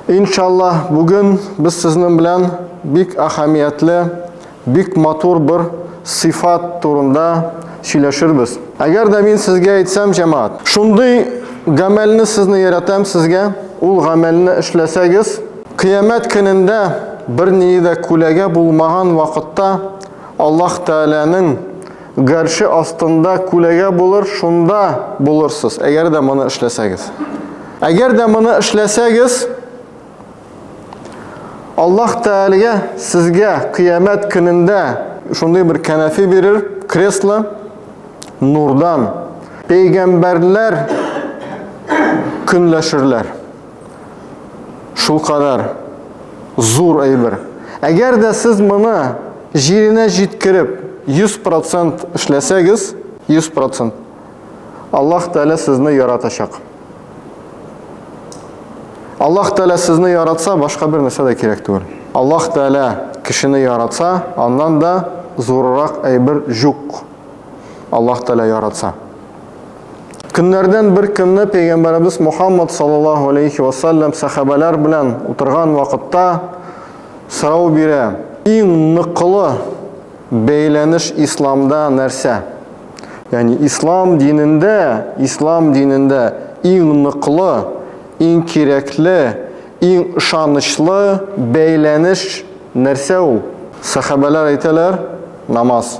Иншаллаһ, бүген без сезнең белән бик әһәмиятле, бик матур бер сыйфат турында сөйләшербез. Әгәр дә мин сезгә әйтсәм, җәмәгать, шундый гамәлне сезне яратам сезгә, ул гамәлне эшләсәгез, кыямәт көнендә берние дә күләгә булмаган вакытта Аллаһ Тәгаләнең Гарше астында күләгә булыр, шунда булырсыз, әгәр дә моны эшләсәгез. Әгәр дә моны эшләсәгез, Аллаһ Тәгаләгә сезгә кыямәт көнендә шундый бер кәнәфи бирер, кресло нурдан. Пәйгамбәрләр көнләшерләр. Шул кадәр зур әйбер. Әгәр дә сез моны җиренә җиткереп 100% эшләсәгез, 100%, Аллаһ Тәгалә сезне яратачак. Аллаһ Тәгалә сезне яратса, башка бер нәрсә дә кирәк түгел. Аллаһ Тәгалә кешене яратса, аннан да зуррак әйбер җук. Аллаһ Тәгалә яратса. Көннәрдән бер көнне пәйгамбәребез Мухаммад саллаллаһу алейхи ва саллям сәхабәләр белән утырган вакытта сорау бирә. Иң ныклы бәйләнеш исламда нәрсә? Ягъни ислам динендә, ислам динендә иң ныклы, иң кирәкле, иң ышанычлы бәйләнеш нәрсә ул? Сәхабәләр әйтәләр, намаз.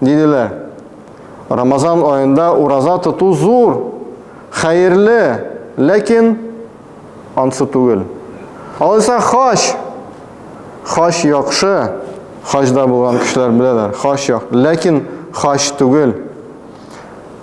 Диделәр. Рамазан аенда ураза тоту зур, хәерле, ләкин ансы түгел. Алайса хач. Хач яхшы. Хаҗда булган кешеләр беләләр. Хач як, ләкин хач түгел.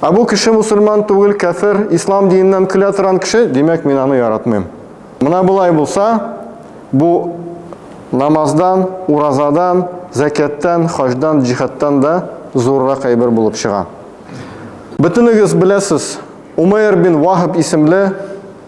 Ә бу кеше мусульман түгел, кәфер, ислам диненнән көлә торган кеше, димәк, мин аны яратмыйм. Менә болай булса, бу намаздан, уразадан, зәкяттан, хаҗдан, җихадтан да зуррак әйбер булып чыга. Бөтенегез беләсез, Умейр бин Вахаб исемле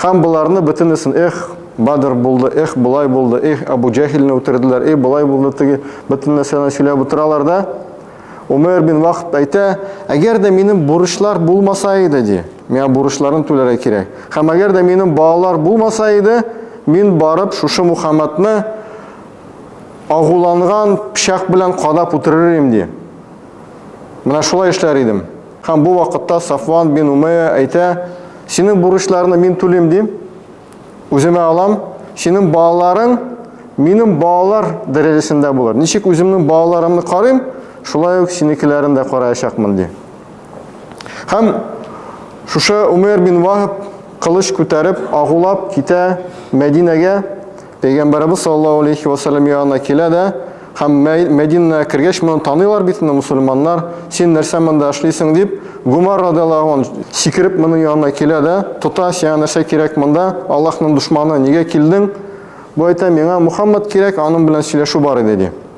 Һәм боларны бөтенесен, эх, Бадр булды, эх, болай булды, эх, Абу Җәһилне үтерделәр, эх, болай булды, теге, бөтен нәрсәне сөйләп утыралар да. Умәр бин Вахб әйтә, әгәр дә минем бурычлар булмаса иде, ди, миңа бурычларын түләргә кирәк. Һәм әгәр дә минем балалар булмаса иде, мин барып шушы Мухаммадны агуланган пычак белән кадап үтерер идем, ди. Менә шулай эшләр идем. Һәм бу вакытта Сафван бин Умәя әйтә, Синең бурычларны мин түлим, дим, үземә алам, синең балаларың минем балалар дәрәҗәсендә булыр. Ничек үземнең балаларымны карыйм, шулай ук синекеләрен дә караячакмын, ди. Һәм шушы Умәр бин Вахаб кылыч күтәреп, агулап китә Мәдинәгә, Пәйгамбәребез саллаллаһу алейхи ва саллям янына килә дә, һәм Мәдинәгә кергәч моны таныйлар бит инде мусульманнар, син нәрсә монда эшлисең дип, Гумар радиаллаһу ан сикереп моның янына килә дә, тота, сиңа нәрсә кирәк монда, Аллаһның дошманы, нигә килдең? Бу әйтә, миңа Мухаммад кирәк, аның белән сөйләшү бар иде, ди.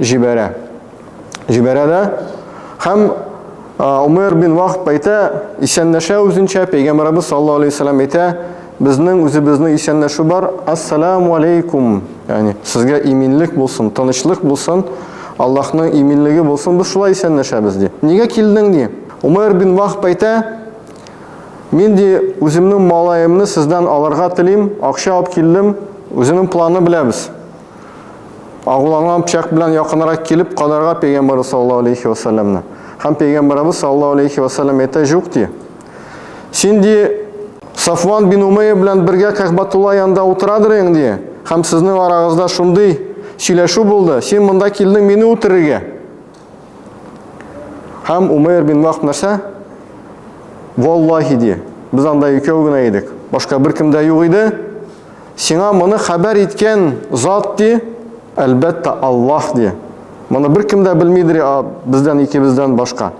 җибәрә. Җибәрә дә. Һәм Умер бин Вахб әйтә, исәнләшә үзенчә, пәйгамбәрбез саллаллаһу алейһи вәсәлләм әйтә, безнең үзебезнең исәнләшү бар, ассаламу алейкум, ягъни сезгә иминлек булсын, тынычлык булсын, Аллаһның иминлеге булсын, без шулай исәнләшәбез ди. Нигә килдең ди? Умер бин Вахб әйтә, мин ди үземнең малаемны сездән алырга телим, акча алып килдем, үзенең планы беләбез. Агуланган пычак белән якынрак килеп кадарга пәйгамбәр саллаллаһу алейхи ва саллямны. Һәм пәйгамбәребез саллаллаһу алейхи ва саллям әйтә, "Юк" ди. Син ди Сафван бин Умейя белән бергә Кәхбатулла янында утырадыр идең ди. Һәм сезнең арагызда шундый сөйләшү булды. Син монда килдең мине үтерергә. Һәм Умейр бин Вахб нәрсә? Валлахи ди. Без анда икәү генә идек. Башка бер кем дә юк иде. Сиңа моны хәбәр иткән зат ди, әлбәттә Аллаһ ди. Моны бер кем дә белмидер, бездән икебездән башка.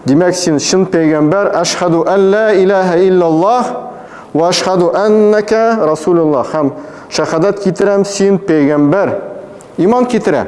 Димәк, син чын пәйгамбәр, ашхаду алла илаха иллаллаһ ва ашхаду аннака расулуллаһ. Һәм шахадат китерәм, син пәйгамбәр. Иман китерә.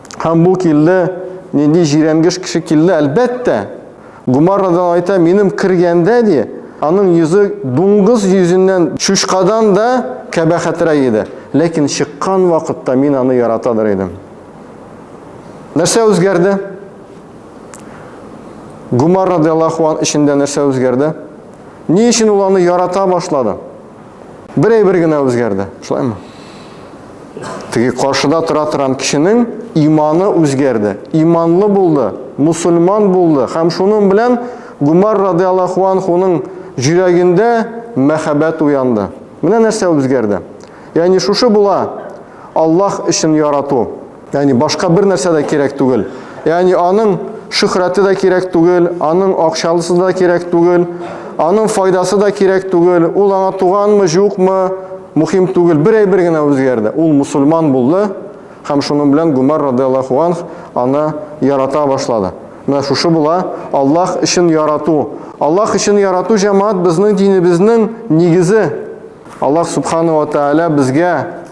Һәм бу килде, нинди җирәнгеш кеше килде, әлбәттә. Гумаррадан айта, минем кергәндә, ди, аның йөзе дуңгыз йөзеннән чучкадан да кәбәхәтрәк иде. Ләкин чыккан вакытта мин аны яратадыр идем. Нәрсә үзгәрде? Гумаррадан Аллахуан эчендә нәрсә үзгәрде? Ни өчен ул аны ярата башлады? Бер әйбер генә үзгәрде. Шулаймы? Теге каршыда тора торган кешенең иманы үзгәрде. Иманлы булды, мусульман булды һәм шуның белән Гумар радиаллаху анхуның җөрәгендә мәхәббәт уянды. Менә нәрсә үзгәрде. Ягъни шушы була Аллаһ өчен ярату. Яни башка бер нәрсә дә кирәк түгел. Яни аның шөхрәте дә кирәк түгел, аның акчалысы да кирәк түгел, аның файдасы да кирәк түгел, ул аңа туганмы, юкмы, мухим түгел. Бер әйбер генә үзгәрде. Ул мусульман булды һәм шуның белән Гумар радиаллаху анх аны ярата башлады. Менә шушы була Аллаһ өчен ярату. Аллаһ өчен ярату җәмәгать безнең динебезнең нигезе. Аллаһ субхана ва тааля безгә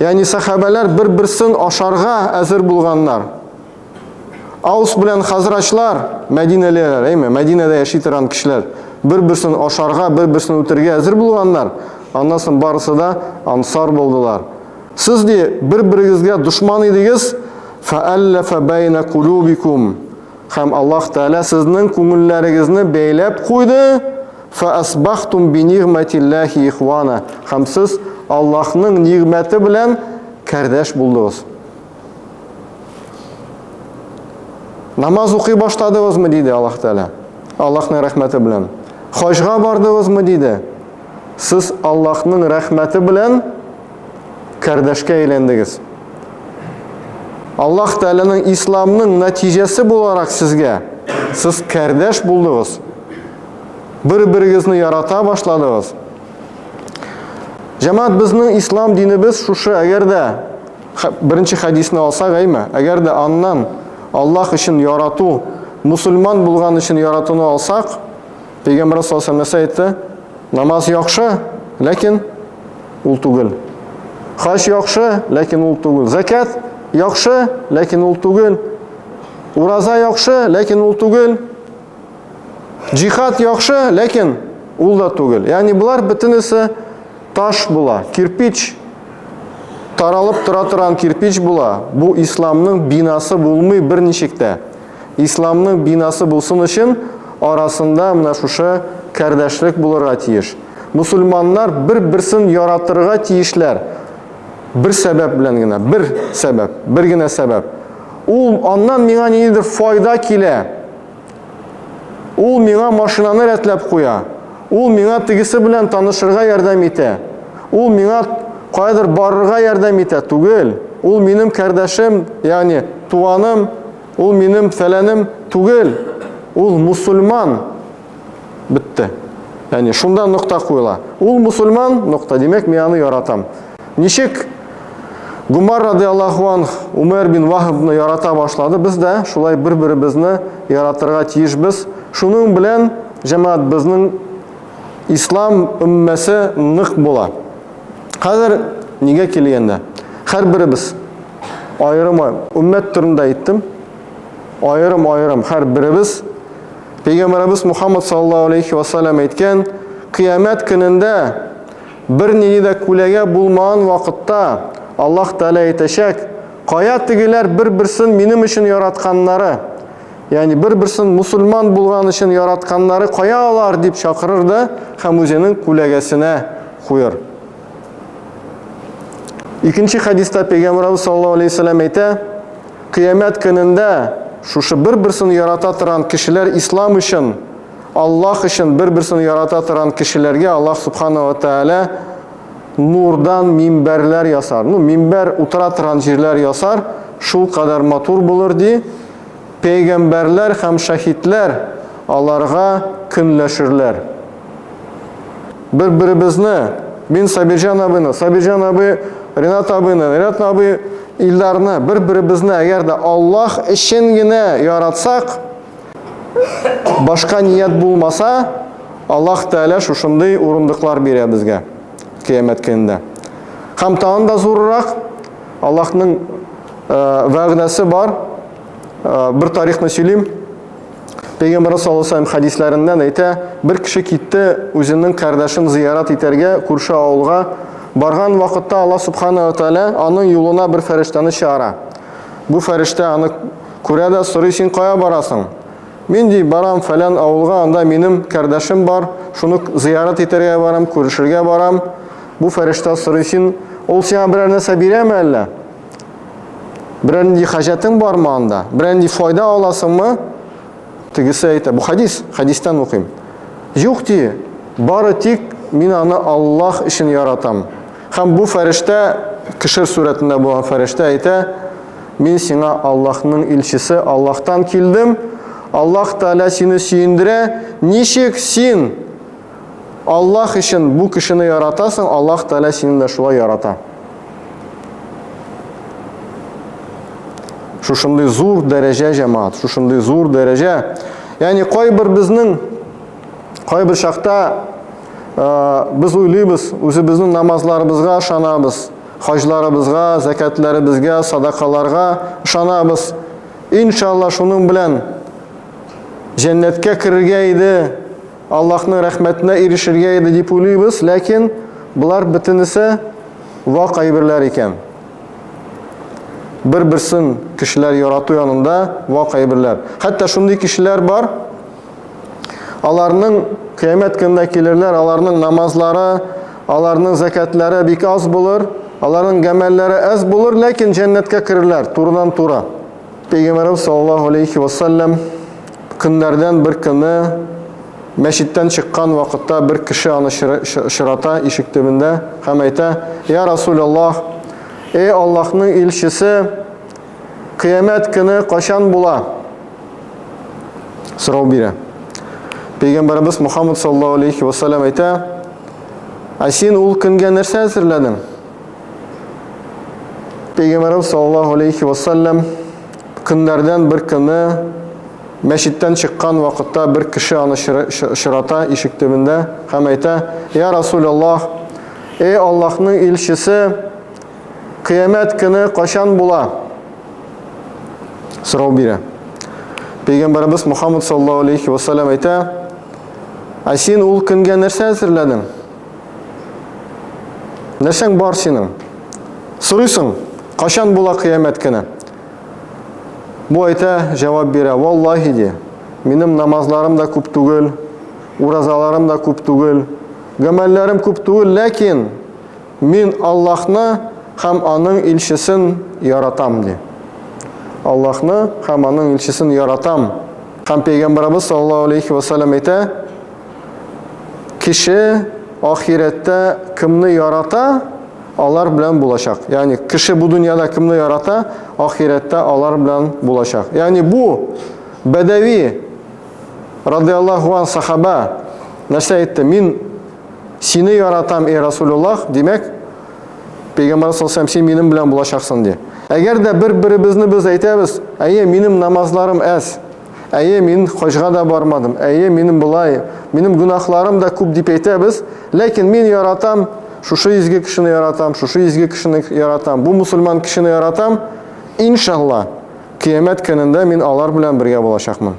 Ягъни сәхабәләр бер-берсен ашарга әзер булганнар. Аус белән хазрачлар, мәдинәлеләр, әйме, Мәдинәдә яши торган кешеләр, бер-берсен ашарга, бер-берсен үтергә әзер булганнар. Аннан соң барысы да ансар булдылар. Сез ди, бер-берегезгә дошман идегез, фәәлләфә бәйнә кулубикум. Хәм Аллаһ Тәгалә сезнең күңелләрегезне бәйләп куйды, фәәсбахтум би нигъмәтилләһи ихвана. Хәм сез Аллаһның нигъмәте белән кәрдәш булдыгыз. Намаз укый башладыгызмы диде Аллаһ Тәгалә. Аллаһның рәхмәте белән. Хаҗга бардыгызмы диде. Сез Аллаһның рәхмәте белән кардәшкә әйләндегез. Аллаһ Тәгаләнең исламның нәтиҗәсе буларак сезгә сез кардәш булдыгыз. Бер-берегезне ярата башладыгыз. Җәмәгать безнең ислам динебез шушы, әгәр дә беренче хадисны алса гайме, әгәр дә аннан Аллаһ өчен ярату, мусульман булган өчен яратуны алсак, Пәйгамбер саллаллаху алейһи ва сәлләм әйтте, намаз яхшы, ләкин ул түгел. Хаҗ яхшы, ләкин ул түгел. Закят яхшы, ләкин ул түгел. Ураза яхшы, ләкин ул түгел. Җихад яхшы, ләкин ул да түгел. Ягъни болар бөтенесе таш була, кирпич таралып тора торган кирпич була. Бу исламның бинасы булмый берничек тә. Исламның бинасы булсын өчен, арасында менә шушы кардәшлек булырга тиеш. Мусульманнар бер-берсен яратырга тиешләр. Бер сәбәп белән генә, бер сәбәп, бер генә сәбәп. Ул аннан миңа ниндидер файда килә. Ул миңа машинаны рәтләп куя. Ул миңа тегесе белән танышырга ярдәм итә. Ул миңа каядыр барырга ярдәм итә. Түгел. Ул минем кардәшем, ягъни туганым, ул минем фәләнем түгел. Ул мусульман. Бетте. Ягъни шунда нокта куела. Ул мусульман, нокта. Димәк, мин аны яратам. Ничек Гумар радиаллаху анх Умәр бин Вахабны ярата башлады, без дә шулай бер-беребезне яратырга тиешбез. Шуның белән җәмәгать безнең ислам өммәсе нык була. Хәзер нигә килгәндә, һәрберебез аерым өммәт турында әйттем. Аерым-аерым һәрберебез Пәйгамбәребез Мухаммад саллаллаһу алейхи ва саллям әйткән, кыямәт көнендә Бер нинди дә күләгә булмаган вакытта Аллаһ Тәгалә әйтәчәк, Кая тегеләр бер-берсен минем өчен яратканнары? Ягъни бер-берсен мусульман булган өчен яратканнары кая алар? дип чакырыр да һәм үзенең күләгәсенә куер. Икенче хәдистә Пәйгамбәрбез саллаллаһу алейһи вәсәлләм әйтә, Кыямәт көнендә шушы бер-берсен ярата торган кешеләр ислам өчен Аллаһ өчен бер-берсен ярата торган кешеләргә Аллаһ Субхана ва Тәгалә нурдан минбәрләр ясар. Ну, минбәр утыра торган җирләр ясар, шул кадәр матур булыр ди. Пәйгамбәрләр һәм шәһитләр аларга көнләшерләр. Бер-беребезне, мин Сабирҗан абыйны, Сабирҗан абый Ренат абыйны, Ренат абый Илдарны, бер-беребезне әгәр дә Аллаһ өчен генә яратсак, башка ният булмаса, Аллаһ Тәгалә шушындый урындыклар бирә безгә кыямәт көнендә. Һәм тагын да зуррак Аллаһның э, вәгъдәсе бар. Э, бер тарихны сөйлим. Пәйгамбәр саллаллаху алейһи ва саллям хадисләреннән әйтә, бер кеше китте үзенең кардәшен зиярат итәргә күрше авылга. Барган вакытта Аллаһ субхана ва тааля аның юлына бер фәрештәне чыгара. Бу фәрештә аны Күрә дә сорый син кая барасың? Мин ди, барам фәлән авылга, анда минем кәрдәшем бар, шуны зыярат итәргә барам, күрешергә барам. Бу фәрештә сорый син, ул сиңа берәр нәрсә бирәме әллә? Берәр нинди хаҗәтең бармы анда? Берәр нинди файда аласыңмы? Тегесе әйтә, бу хадис, хадистан укыйм. Юк ди, бары тик мин аны Аллаһ өчен яратам. Һәм бу фәрештә, кешер сурәтендә булган фәрештә әйтә, Мин сиңа Аллаһның илчесе, Аллаһтан килдем, Аллаһ Тәгалә сине сөендерә, ничек син Аллаһ өчен бу кешене яратасың, Аллаһ Тәгалә сине дә шулай ярата. Шушындый зур дәрәҗә, җәмаат, шушындый зур дәрәҗә. Ягъни кайбер безнең Кайбер чакта без уйлыйбыз, үзебезнең намазларыбызга ышанабыз, хаҗларыбызга, зәкәтләребезгә, садакаларга ышанабыз. Иншалла шуның белән җәннәткә керергә иде, Аллаһның рәхмәтенә ирешергә иде дип уйлыйбыз, ләкин болар бөтенесе вак әйберләр икән. Бер-берсен кешеләр ярату янында вак әйберләр. Хәтта шундый кешеләр бар, Аларның кыямәт көненә килерләр, аларның намазлары, аларның зәкәтләре бик аз булыр, аларның гамәлләре аз булыр, ләкин җәннәткә керерләр турыдан туры. Пәйгамбәрбез саллаллаһу алейхи ва саллям көннәрдән бер көне мәчеттән чыккан вакытта бер кеше аны очрата ишек төбендә һәм әйтә: "Я Расул Аллаһ, эй Аллаһның илчесе, Кыямәт көне качан була? Сорау бирә. Пәйгамбәрбез Мухаммад саллаллаһу алейхи ва саллям әйтә: "Ә син ул көнгә нәрсә әзерләдең?" Пәйгамбәрбез саллаллаһу алейхи ва саллям көннәрдән бер көне мәчеттән чыккан вакытта бер кеше аны очрата ишек төбендә һәм әйтә: "Я Расул Аллаһ, эй Аллаһның илчесе, Кыямәт көне качан була? Сорау бирә. Пәйгамбәрбез Мухаммад саллаллаһу алейхи ва саллям әйтә: "Ә син ул көнгә нәрсә әзерләдең?" Нәрсәң бар синең? Сорыйсың, качан була кыямәт көне? Бу әйтә, җавап бирә, валлаһи ди, минем намазларым да күп түгел, уразаларым да күп түгел, гамәлләрем күп түгел, ләкин Мин Аллаһны һәм Аның илчесен яратам, ди. Аллаһны һәм Аның илчесен яратам. Һәм Пәйгамбәребез саллаллаһу алейһи вә сәлләм әйтә, Кеше ахирәттә кемне ярата, алар белән булачак. Ягъни кеше бу дөньяда кемне ярата, ахирәттә алар белән булачак. Ягъни бу Бәдәви радыяллаһу ан сахаба нәрсә әйтте? Мин Сине яратам, эй Расулуллах, димәк, Пәйгамбәр саллаллаху син минем белән булачаксың ди. Әгәр дә бер-беребезне без әйтәбез, әйе, минем намазларым әз, әйе, мин хаҗга да бармадым, әйе, минем болай, минем гөнаһларым да күп дип әйтәбез, ләкин мин яратам, шушы изге кешене яратам, шушы изге кешене яратам, бу мусульман кешене яратам, иншалла, кыямәт көнендә мин алар белән бергә булачакмын.